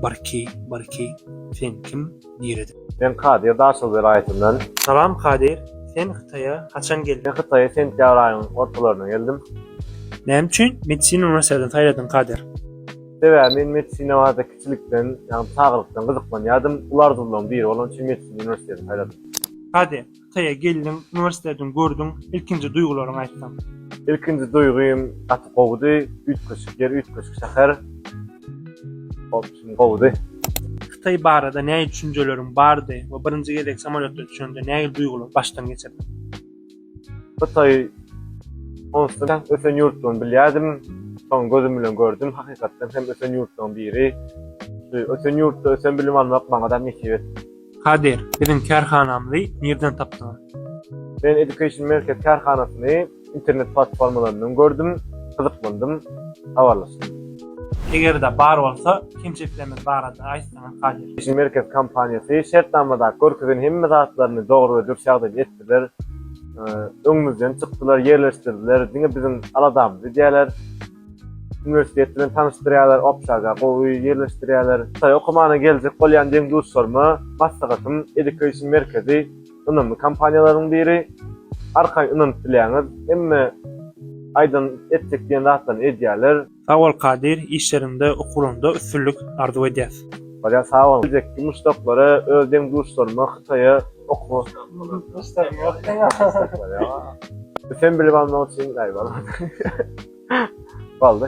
Barki, barki, sen kim, nireden? Men Kadyr Daşoguz welaýatyndan. Salam Kadyr, sen Hytaýa haçan geldiň? Men Hytaýa sentýabr aýynyň ortalarynda geldim. Näme üçin medisina uniwersitini saýladyň Kadyr? Sebäbi men medisina barada kiçilikden, ýagny çagalykdan gyzyklanýardym. Uly arzuwlaryň biri bolany üçin medisina uniwersitini saýladym. Kadyr, Hytaýa geldiň, uniwersitetiň gördüň, ilkinji duýgularyňy aýtsaň? Ilkinji duýgym gaty gowudy, üýtgeşik ýer, üýtgeşik şäher. Hopsun gowudy. Hytaý barada nähili düşünjeleriň bardy we birinji gezek samolýotda düşende nähili duýgulary başdan geçirdiň? Hytaý onsuz hem ösen ýurtdygyny bilýärdim, soň gözüm bilen gördüm, hakykatdan hem ösen ýurtlaryň biri. Ösen ýurtda ösen bilim almak maňada hem nesip etdi. Kadir, biziň kärhanamyzy nirden tapdyňyz? Men Education Market kärhanasyny internet platformalaryndan gördüm, gyzyklandym, habarlaşdym. Eger-de bar bolsa, kemçiliklerimiz barada aýtsaňyz, Kadir? Education Market kompaniýasy şertnamada görkezen hemme zatlaryny dogry we dürs ýagdaýda etdiler. Öňümizden çykdylar, ýerleşdirdiler, diňe biziň aladamyz edýärler. Uniwersitet bilen tanyşdyrýarlar, obşaga gowy ýerleşdirýärler. Hytaý okumana geljek bolýan deň-duşlaryma maslahatym, Education Merkezi ynamly kompaniýalaryň biri. Arkaýyn ynanyp bilýäňiz. Hemme aýdan etjek diýen zatlaryny edýärler. Sag bol Kadyr, işleriňde, okuwlaryňda üstünlik arzuw edýäs. Barýar sag bol. Geljekki muşdaklara öz deň-duşlaryma Hytaýa okuwa Bu sen bilip almak üçin gaýyp almadyň. Boldy.